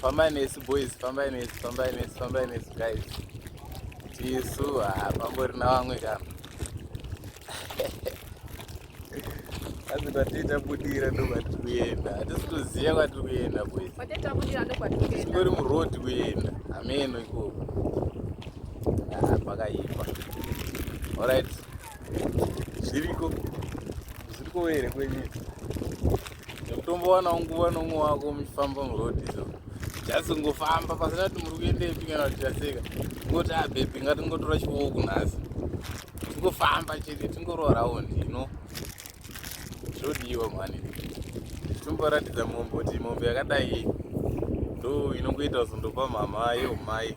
fambai nesu boys fambai nesu fambai nesu fambai nesu guys tisu hapambori ah, navamwe kana asi kwatiita budira ndo kwatiri kuenda hatisi kuziva kwatiri kuenda boys tingori muroad kuenda hameno ikoko ah, pakaipa orit zviriko zviriko here kwenyika kutombowanawo nguva nomwe wako muchifamba muroad so just ngofamba pasina kuti muri kuendepi kana kuti taseka ngoti abhepi ah, ngatingotora chiwoo kunhasi tingofamba chete tingororawo ndino zvodiwa mhani tomboratidza mombe kuti mombe yakadai ndo inongoita zundopa mhamha yomai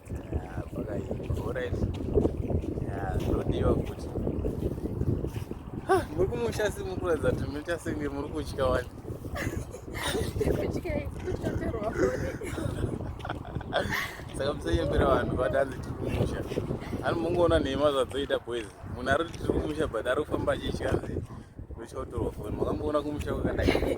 muri kumusha si muri kuratidza kuti munoita senge muri kutya wani saka musanyembera vanhu vati hanzi tiri kumusha ani mungoona nhema zvadzoita boys munhu ari kuti tiri kumusha but ari kufamba achitya hanzi ndochaotorwa foni makamboona kumusha kwakadai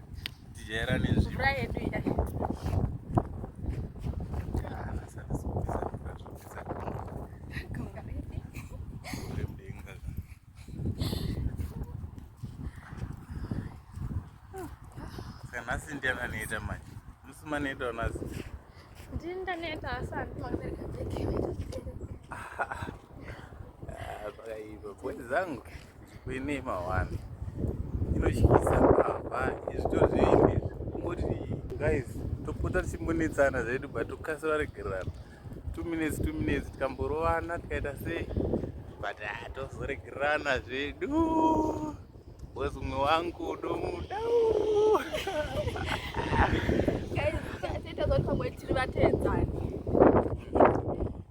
tijairane mvura yedu iya nhasi ndiani anoita manje musi manoita unasi ndini ndaneta asi handimakubereka bheke zvakaipa bhoni zangu Kwene mawani inotyisa baba izvito zvinhu izvi kungoti guys topota tichimbonetsana zvedu but tokasira regererana two minutes two minutes tikamborovana tikaita sei but ah, tozoregererana zvedu wes umwe wangu domuda tiri vatedzani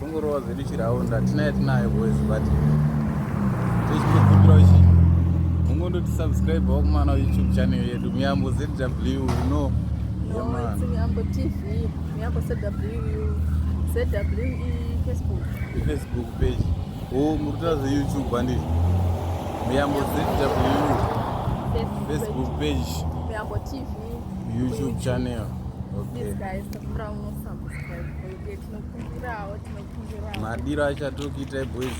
Tongorova zvedu chiraunda tinayo tinayo boys but tichikumbira uchi mungondo tisubscribe wakumana youtube channel yedu miyambo zw you know yeah, miyambo tv miyambo zw zwe facebook facebook page oh muri kutaura zveyoutube handiti miyambo zw facebook page miyambo tv youtube channel okay. Please guys, madiro achatokuita boys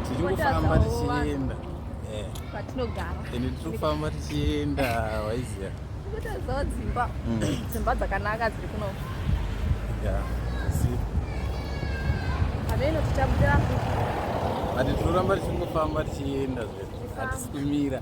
tichikufamba tichienda ende tiri kufamba tichienda waiziva dzimba mm. dzimba dzakanaka dziri kuno hameno tichaputira but tinoramba tichingofamba tichienda zve hatisi kumira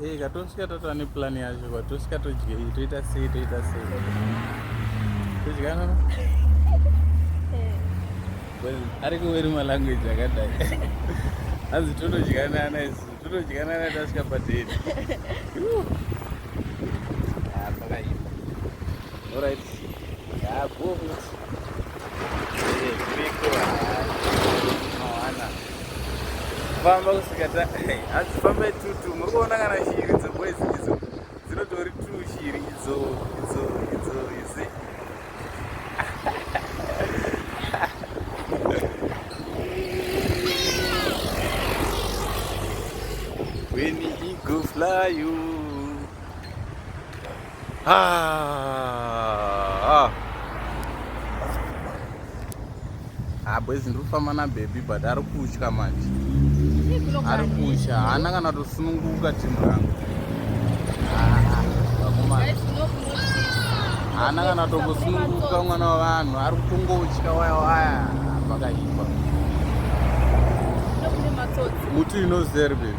Hey, katosvika tatova neplan yacho kwatosvika todyei toita sei toita sei todya nono well ari kuweri malanguage akadai hanzi totodyanana isu totodyanana tasvika padate ah, pakaipa orit yabo ah, famba kusvika ta hanzi fambai tutu muri kuona kana shiri dzoboizi idzo dzinotori tu shiri idzo idzo idzo izi when he go fly you Ah, ah boys ndiri kufamba nababy but ari kutya manje ari kutya haana kana tosununguka timu rangu haana kana tokusununguka mwana wavanhu ari kutongotya waya waya pakaipa muti inozeri baby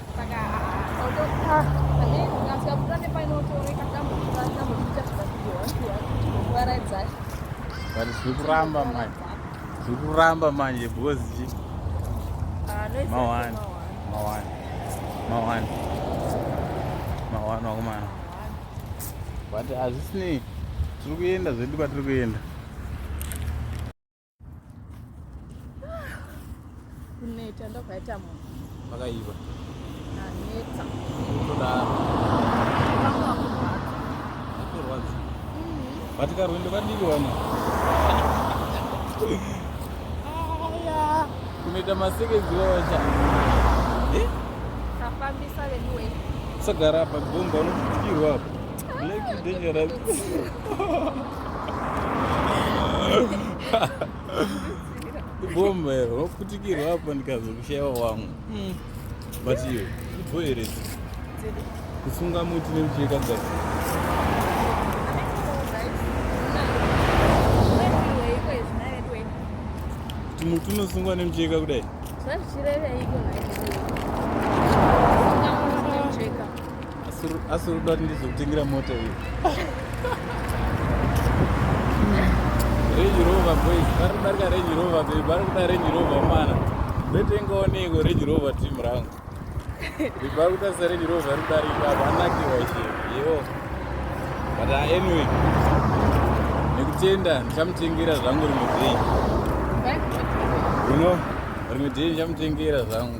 but zviri kuramba manje zviri kuramba manje because chi mawani mawani mawani mawani wakomana but hazvisinei tiri kuenda zvedu kwatiri kuenda kuneta ndokwaita munhu makaiva aneta kurwadza vati karwendo kadiki wana kunoita masekenzi wawacha kafambisa veduwe sagara apa gomba unokutikirwa apa like dangerous bomba iro wakutikirwa apa ndikazokushaiwa wangu hmm. but iyo ibho here kusunga muti nemucheka gasi kuti muti unosungwa nemucheka kudai zvazichireveiko asi unoda kuti ndizokutengera mota iyo range rover boys vari kudarika range rover babe vari kuda range rover mwana ndotengawo neiko range rover team rangu babe vari kutarisa range rover vari kudarika apa anakiwa iye yewo but ah, anyway nekutenda ndichamutengera zvangu rimwe day you know rimwe day ndichamutengera zvangu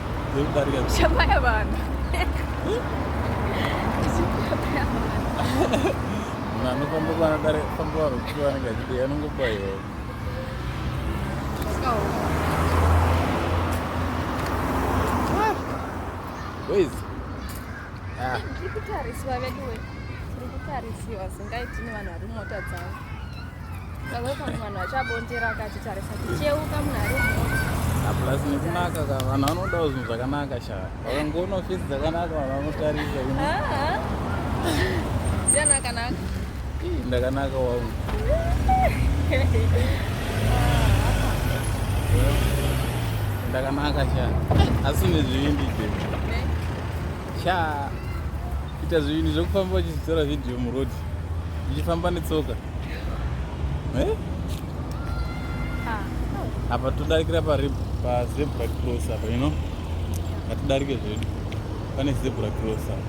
Chapaya vanhu. Mwana kwamba bana dare kwamba waro kuwa nanga kidi yanungo kwa yo. Where's? Ah. Ndikutarisiwa veduwe. Ndikutarisiwa singaiti ni vanhu vari mota dzavo. plus nekunaka ka vanhu vanodawo zvinhu zvakanaka sha vakangoona ofisi dzakanaka vanhu vanotarisa ndakanaka wangu ndakanaka sha asi nezvivindi izvezvi Cha ita zvinhu zvekufamba uchitora video muroad uchifamba netsoka eh? ah, apa todarikira pazebra cross apa you know hatidarike zvedu pane zebra cross apa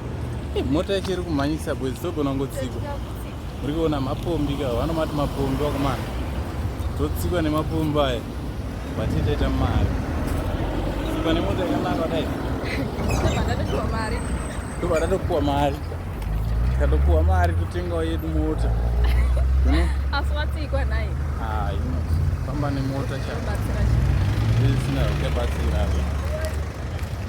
eh, mota yacho iri kumhanyisa bwezi togona ngotsiko muri kuona mapombi ka vano mati mapombi wakomana totsikwa nemapombi aya vati taita mari tsikwa nemota yakanaka kudai tobva tatopuwa mari tikatopuwa mari totengawo yedu mota asi watsikwa nhai ah, famba nemota chaisina uchabatsira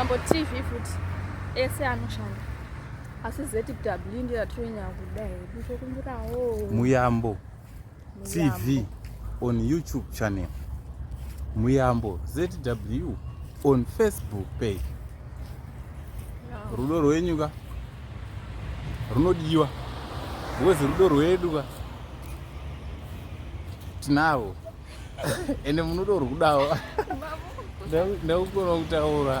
Muyambo TV futhi ese anoshanda asi ZW ndiyo yatinonya kuda hedu tokumbirawo Muyambo TV on YouTube channel Muyambo ZW on Facebook page Rudo rwenyu ka runodiwa because rudo rwedu ka tinavo ende munodo rwudawo ndakukona kutaura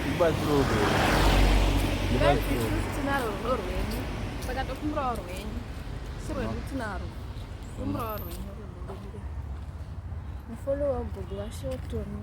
ndibatsirodo Follow up, Google, show to me.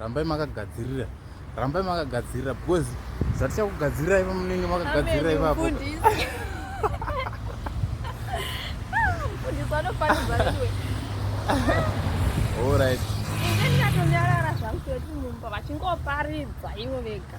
rambai makagadzirira rambai makagadzirira because zvatichakugadzirirai pamunenge makagadzirira ipapo Alright. Ndingatonyarara zvangu kuti mumba vachingoparidza ivo vega.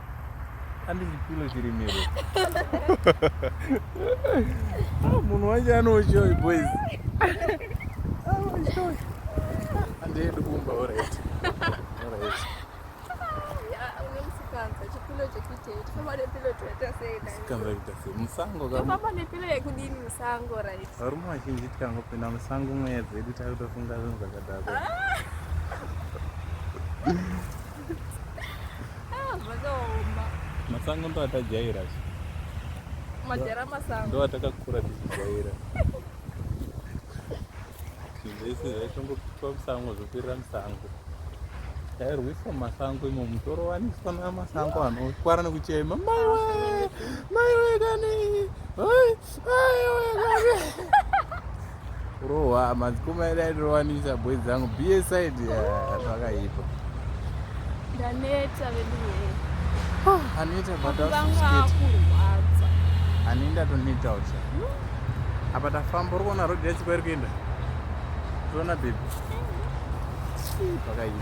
Andi chipilo chiri miro. Ah, munhu wacho anoushoyi boys. Anoushoyi. Ah, Andi edu kumba alright. Alright. musango varume vazhinji tikangopinda musango mweya dzedu takutofunga zvinhu zvakadaro ah! Ah, zvakaoma. Masango ndo atajaira. Majara masango. Ndo atakakura tichijaira. Zvese zvaitongopitwa musango zvoperera musango. Tairwiswa mumasango imo mutoro waniswa namasango anotwara nekuchema. Mai wee! Mai wee kani! Oi! kurohwa madzikoma edu aitowanisa boi dzangu bsaid zvakaipa ndaneta veduaneta ani ndatoneta ucha apa tafamba uri kuona rodi yacho kwairi kuenda toona bebi zvakaipa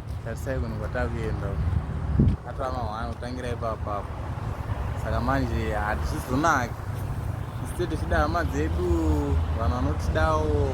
tarisai kunhu kwatakuenda atava mahwana kutangira ipapa apo saka manje hatizvizonaki iste tichida hama dzedu vanhu vanotidawo